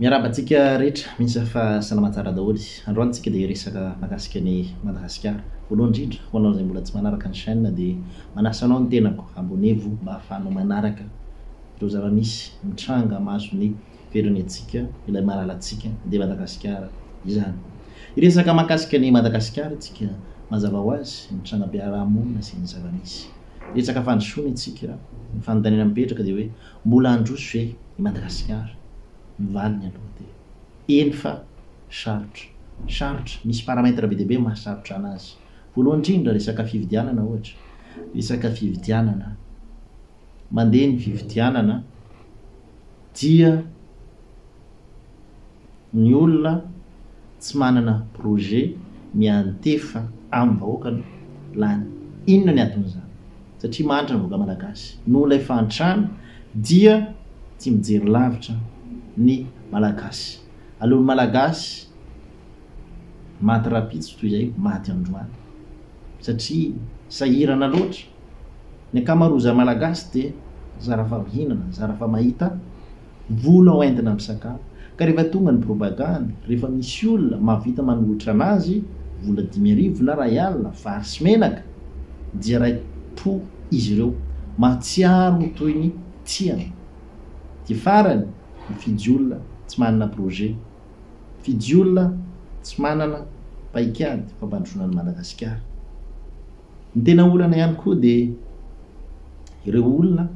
Miarahaba antsika rehetra mihintsy fa salama tsara daholo. Androany tsika dia hiresaka mahakasika ny Madagasikara. Voalohany indrindra ho anao izay mbola tsy manaraka ny chaîne dia manasa anao ny tenako abonevo mba ahafahanao manaraka ireo zava-misy mitranga mahazo ny firenentsika ilay malalantsika dia Madagasikara izany. Hiresaka mahakasika ny Madagasikara isika mazava ho azy ny trangam-piarahamonina sy ny zava-misy. Resaka fandrosoana isika. Ny fanontaniana mipetraka dia hoe Mbola handroso ve i Madagasikara? Ny valiny aloha dia eny fa sarotra. Sarotra. Misy paramètres be dia be mahasarotra anazy. Voalohany indrindra resaka fividianana ohatra. Resaka fividianana. Mandeha ny fividianana dia. ny olona tsy manana projet miantefa aminy vahoaka no lany inona ny aton'izany satria mahantra ny vahoaka malagasy noho ilay fahantrana dia tsy mijery lavitra ny malagasy aleony malagasy maty rapitso toy izay maty androany satria sahirana loatra ny akamarozany malagasy dia zara fa mihinana zara fa mahita Mivola ao Inde na misakafo. Ka rehefa tonga ny propagandy, rehefa misy olona mahavita manohitra anazy, vola dimy arivo na ray alina, vary sy menaka, dia rai po izy ireo, mahatsiaro ho toy ny tiany. Dia farany, mifidy olona tsy manana projet, mifidy olona tsy manana paikady fampandrosoana an'i Madagasikara. Ny tena olana ihany koa dia ireo olona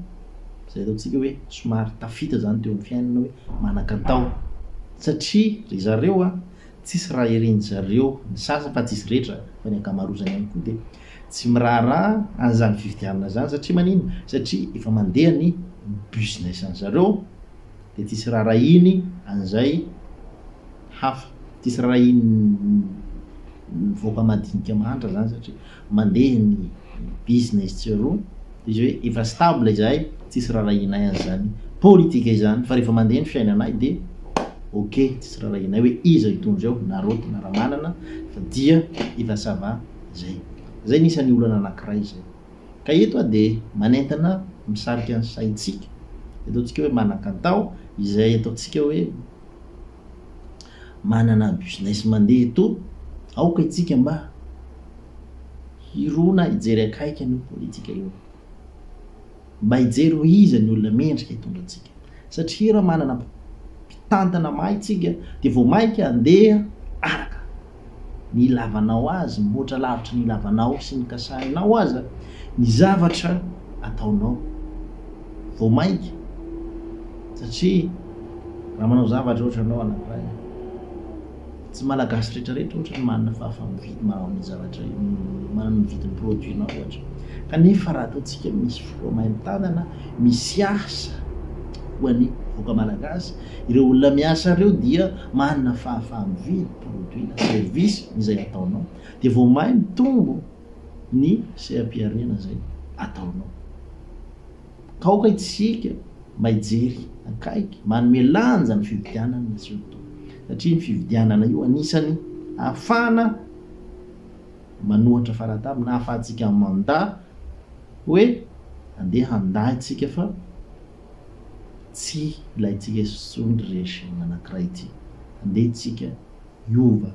izay ataontsika hoe somary tafita izany teo amin'ny fiainana hoe manan-kantao satria ry zareo a, tsisy raha irin-dry zareo, ny sasany fa tsy izy rehetra fa ny ankamarozany ihany koa dia tsy miraharaha an'izany fifidianana izany satria maninona? Satria efa mandeha ny business-ndry zareo. dia tsy hisy rarahiany an'izay hafa, tsy hisy rarahian'ny vahoaka madinika mahantra izany satria mandeha ny business tsiroa, dia izy hoe efa stable izahay tsy hisy rarahianay an'izany politika izany fa rehefa mandeha ny fiainanay dia ok tsy hisy rarahianay hoe iza hitondra eo na Roty na Ramanana fa dia efa ça va izay. Izay no isan'ny olana anankiray izay. Ka eto aho dia manentana misarika ny saintsika, ataontsika hoe manan-kantao izay ataontsika hoe manana business mandeha eto, aoka itsika mba hirona hijery akaiky an'io politika io, mba hijery hoe iza ny olona mendrika hitondra antsika satria raha manana mpitantana mahay tsika dia vao mainka handeha araka. ny ilavanao azy, mihoatra lavitra ny ilavanao sy ny kasahinao aza ny zavatra ataonao. Vao mainka, satria raha manao zavatra ohatra ianao anankiray, tsy Malagasy rehetrarehetra ohatra no manana fahafaha-mividy manao an'io zavatra io, manana mividy ny produit-nao ohatra. Kanefa raha ataontsika misy fo main-tanana, misy asa ho an'ny vahoaka Malagasy, ireo olona miasa ireo dia manana fahafaha-mividy. produit na service izay ataonao dia vao may mitombo ny seha-pihariana izay ataonao. Ka aoka isika mba hijery akaiky, manome lanja ny fividianana izy io tompoko, satria io fividianana io anisany ahafahana manohatra faratany na ahafahantsika manda hoe andeha handà isika fa. Tsy ilaintsika intsony ry regime anankiray ity. Andeha tsika hiova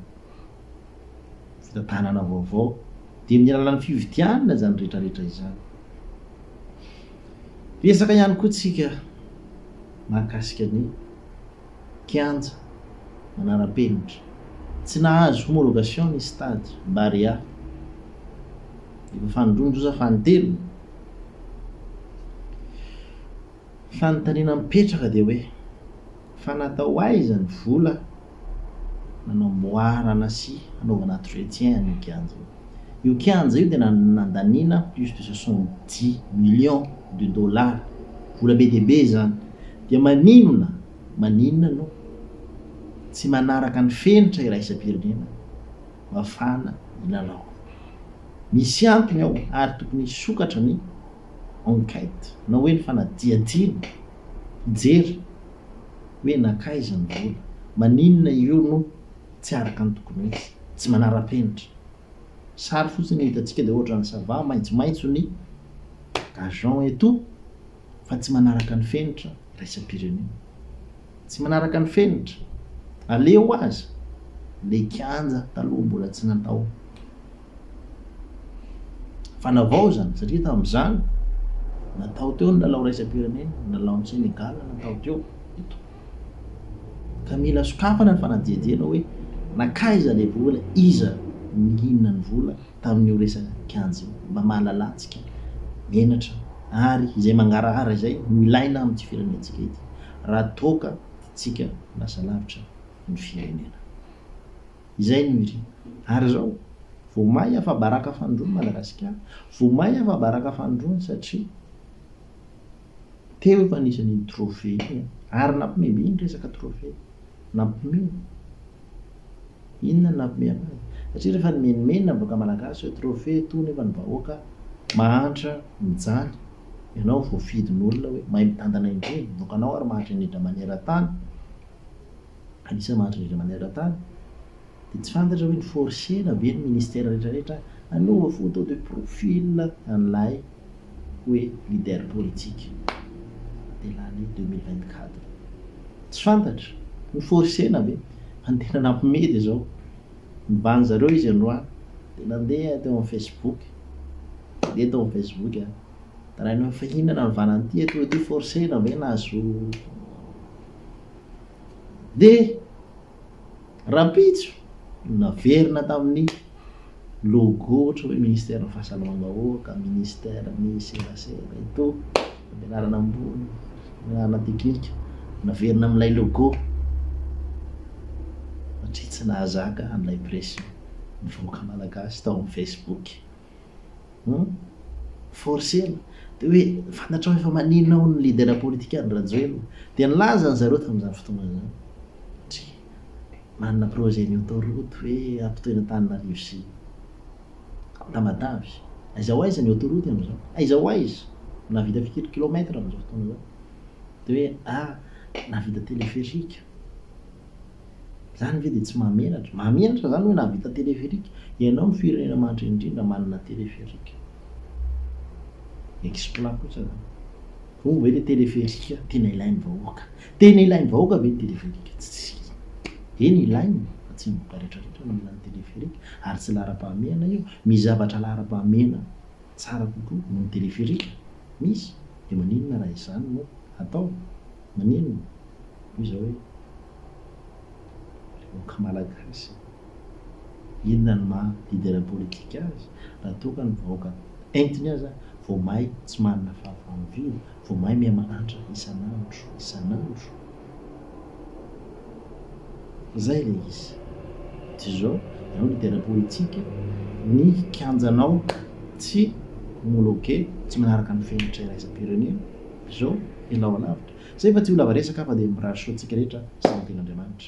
fitantanana vaovao dia amin'ny alalan'ny fividianana izany rehetra rehetra izany. Resaka ihany koa tsika mahakasika ny. kianja manara-penitra. Tsy nahazo homologation ny stade Barea. Efa fanondroan-doza fanintelony. Fanontaniana mipetraka dia hoe, fa natao aiza ny vola nanamboarana sy hanaovana entretien an'io kianja io? Io kianja io dia nandaniana plus de soixante dix millions de dollars, vola be dia be izany, dia maninona maninona no tsy manaraka ny fenitra iraisam-pirenena mafana ny lalao. Misy antony ao ary tokony hisokatra ny enquête na hoe ny fanadihadiana hijery hoe nankaiza ny vola, maninona io no. tsy araka ny tokony ho izy, tsy manara-penitra. Sary fotsiny io hitantsika dia ohatran'ny ça va, maitsomaitso ny gazon eto fa tsy manaraka ny fenitra iraisam-pirenena. Tsy manaraka ny fenitra. Aleo aza ilay kianja taloha mbola tsy natao fanavaozana satria tamin'izany natao teo ny lalao iraisam-pirenena, ny lalaon'i Senegal natao teo eto. Ka mila sokafana ny fanadihadiana hoe nankaiza ilay vola, iza no nihinana ny vola tamin'io resaka kianja io mba mahalalantsika menatra ary izay mangarahara izay no ilaina amin'ity firenentsika ity raha toa ka tiantsika ho lasa lavitra ny firenena. Izay no irina. Ary izao vao may afa-baraka fanindroany Madagasikara, vao may afa-baraka fanindroany satria. Teo efa nisy an'iny trophée iny an! Ary nampome be iny resaka trophée. Nampome. Inona no nampome anazy? Satria rehefa nimenomenona ny vahoaka malagasy hoe trophée etoa nefa ny vahoaka mahantra mijaly. Ianao voafidin'olona hoe mahay mitantana indrindra. Ny vahoakanao ary mahantra indrindra maneran-tany. Anisan'ny mahantra indrindra maneran-tany. Dia tsy fantatra hoe ni-forcer-na ve ny ministère rehetra rehetra? Anaova photo de profil an'ilay. hoe leader politique de l'année deux mille vingt quatre tsy fantatra ho forcena ve fa ny tena nampime de zao nivaha anzareo izy androany de nandeha teo am facebook de tao am facebook an taraina hoe fa inona navana an'ity atoa ity forcena ve nahazo de Rahampitso no naverina tamin'ny logo ohatra hoe ministeran'ny fahasalamam-bahoaka, ministeran'ny serasera, eto fampianarana ambony, fampianarana teknika, naverina amin'ilay logo satria tsy nahazaka an'ilay pression ny vahoaka malagasy tao amin'ny Facebook. Hum forcena de hoe fantatrao efa maninona hono ny leader politika any Rajoelina dia nilaza ny zareo tamin'izany fotoana izany satria manana projet ny autoroute hoe ampitoy any Antananarivo sy Tamatave aiza ho aiza ny autoroute amin'izao aiza ho aiza nahavita firy kilomètre amin'izao fotoana izao de hoe ah nahavita téléphérique Zany ve dia tsy mahamenatra? Mahamenatra zany hoe nahavita téléphérique? Ianao no firenena mahantra indrindra manana téléphérique. Exploit kosa zany. Hono ve le téléphérique tena ilain'ny vahoaka? Tena ilain'ny vahoaka ve ny téléphérique? Tsia. Eny ilaina fa tsy ny vahoaka retraretra no mila ny téléphérique ary tsy laharam-pahamehana io. Misy zavatra laharam-pahamehana tsara kokoa noho ny téléphérique? Misy. Dia maninona raha izany no atao? Maninona? Hoy izaho hoe, Ilay vahoaka malagasy e! Inona no maha leader politique azy raha toa ka ny vahoaka entiny aza vao may tsy manana fahavalo vilo, vao may mihamahantra isan'andro isan'andro? Izay ilay izy. Toy izao, ianao leader politique, ny kianjanao tsy homologué, tsy manaraka ny fenitra iraisam-pirenena, Zo, ianao alavitra. Zay fa tsy ho lava resaka fa dia mirary soa antsika rehetra sy ny tenin'Andriamanitra.